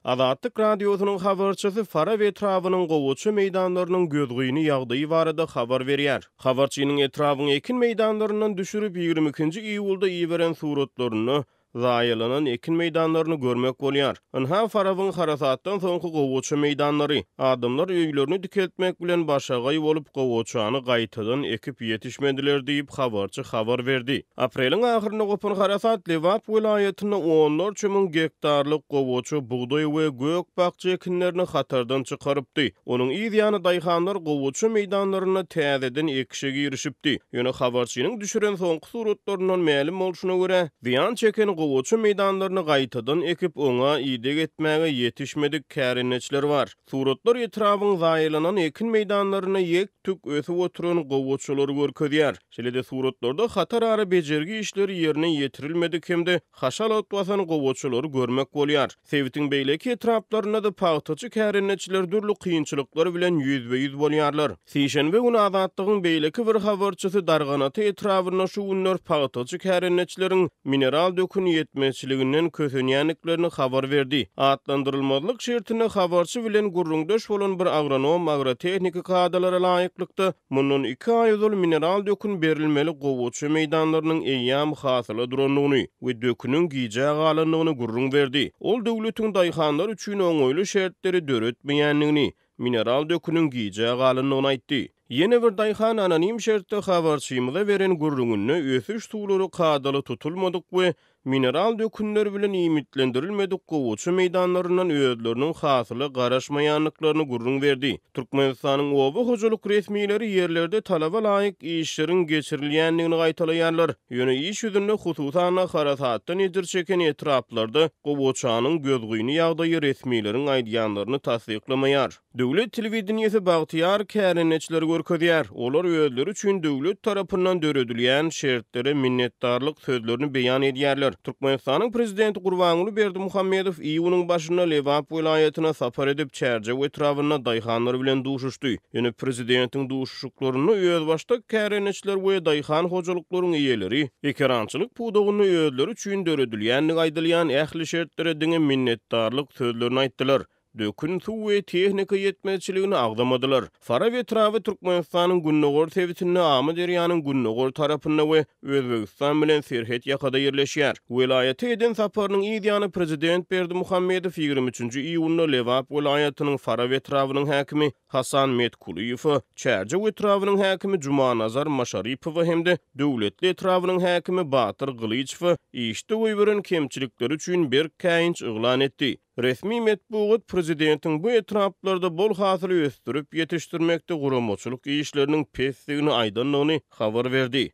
Azatlyk Radiosynyň habarçysy Farap etrabynyň gowaça meýdanlarynyň gözgyny ýagdaýy barada habar berýär. Habarçynyň etrabyň ekin meýdanlaryndan düşürip ýigrimi ikinji iýulda iberen suratlarynda zaýalanan ekin meýdanlaryny görmek bolýar. Ynha Farabyň harasatdan soňky gowaça meýdanlary. Adamlar öýlerini dikeltmek bilen başagaý bolup gowaçany gaýtadan ekip ýetişmediler diýip habarçy habar berdi. Apreliň ahyrynda gopan harasat Lebap welaýatynda onlarça müň gektarlyk gowaça, bugdaý we gök-bakja ekinlerini hatardan çykarypdy. Onuň yz ýany daýhanlar gowaça meýdanlarynda täzeden ekişe girişipdi. Ýöne habarçynyň düşüren soňky suratlaryndan mälim bolşuna görä, zyýan çeken gowaça meýdanlaryny gaýtadan ekip, oňa ideg etmäge ýetişmedik kärendeçiler bar. Suratlar etrabyň zaýalanan ekin meýdanlarynda ýek-tük ösüp oturan gowaçalary görkezýär. Şeýle-de suratlarda hatarara bejergi işleri ýerine ýetirilmedik hem-de haşalat basan gowaçalary görmek bolýar. Sebitiň beýleki etraplarynda-da pagtaçy kärendeçiler dürli kynçylyklar bilen ýüzbe-ýüz bolýarlar. Sişenbe güni Azatlygyň beýleki bir habarçysy Darganata etrabynda şu günler pagtaçy kärendeçileriň mineral döküni ýetmezçiliginden kösenýändiklerini habar berdi. Atlandyrylmazlyk şertinde habarçy bilen gürrüňdeş bolan bir agronom agrotehniki kadalara laýyklykda, mundan iki aý ozal mineral dökün berilmeli gowaça meýdanlarynyň eýýäm hasyla durandygyny we döküniň gijä galandygyny gürrüň berdi. Ol döwletiň daýhanlar üçin oňaýly şertleri döretmeýändigini, mineral döküniň gijä galandygyny aýtdy. Ýene bir daýhan anonim şertde habarçymyza beren gürrüňinde ösüş suwlary kadaly tutulmadyk we mineral dökünler bilen iýmitlendirilmedik gowaça meýdanlaryndan özleriniň hasyla garaşmaýandyklaryny gürrüň berdi. Türkmenistanyň oba hojalyk resmileri ýerlerde talaba laýyk işleriň geçirilýändigini gaýtalaýarlar. Ýöne iş ýüzünde, hususan-da, harasatdan ejir çeken etraplarda gowaçanyň gözgyny ýagdaýy resmileriň aýdýanlaryny tassyklamaýar. Döwlet telewideniýesi bagtyýar kärendeçileri görkezýär. Olar özleri üçin döwlet tarapyndan döredilýän şertlere minnetdarlyk sözlerini beýan edýärler. Türkmenistanyň Prezidenti Gurbanguly Berdimuhamedow iýunyň başynda Lebap welaýatyna sapar edip, Çärjew etrabynda daýhanlar bilen duşuşdy. Ýöne Prezidentiň Şuklarynda özbaşdak kärendeçiler we daýhan hojalyklaryň eýeleri ekerançylyk pudagynda özleri üçin döredilýändigi aýdylýan ähli şertlere diňe minnetdarlyk sözlerini aýtdylar, dökün, suw we tehnika ýetmezçiligini agzamadylar. Faraw etraby Türkmenistanyň gündogar sebitinde Amyderýanyň gündogar tarapynda we Özbegistan bilen serhet ýakada ýerleşýär. Welaýata eden saparynyň yz ýany prezident Berdimuhamedow ýigrimi üçünji iýunda Lebap welaýatynyň Faraw etrabynyň häkimi Hasan Metkulyýewe, Çärjew etrabynyň häkimi Jumanazar Maşaripowa hem-de Döwletli etrabynyň häkimi Batyr Gylyçowa işde goýberen kemçilikleri üçin berk käýinç yglan etdi. Resmi metbugat prezidentiň bu etraplarda bol hasyly ösdürip ýetişdirmekde guramaçylyk işleriniň pesdigini aýdandygyny habar berdi.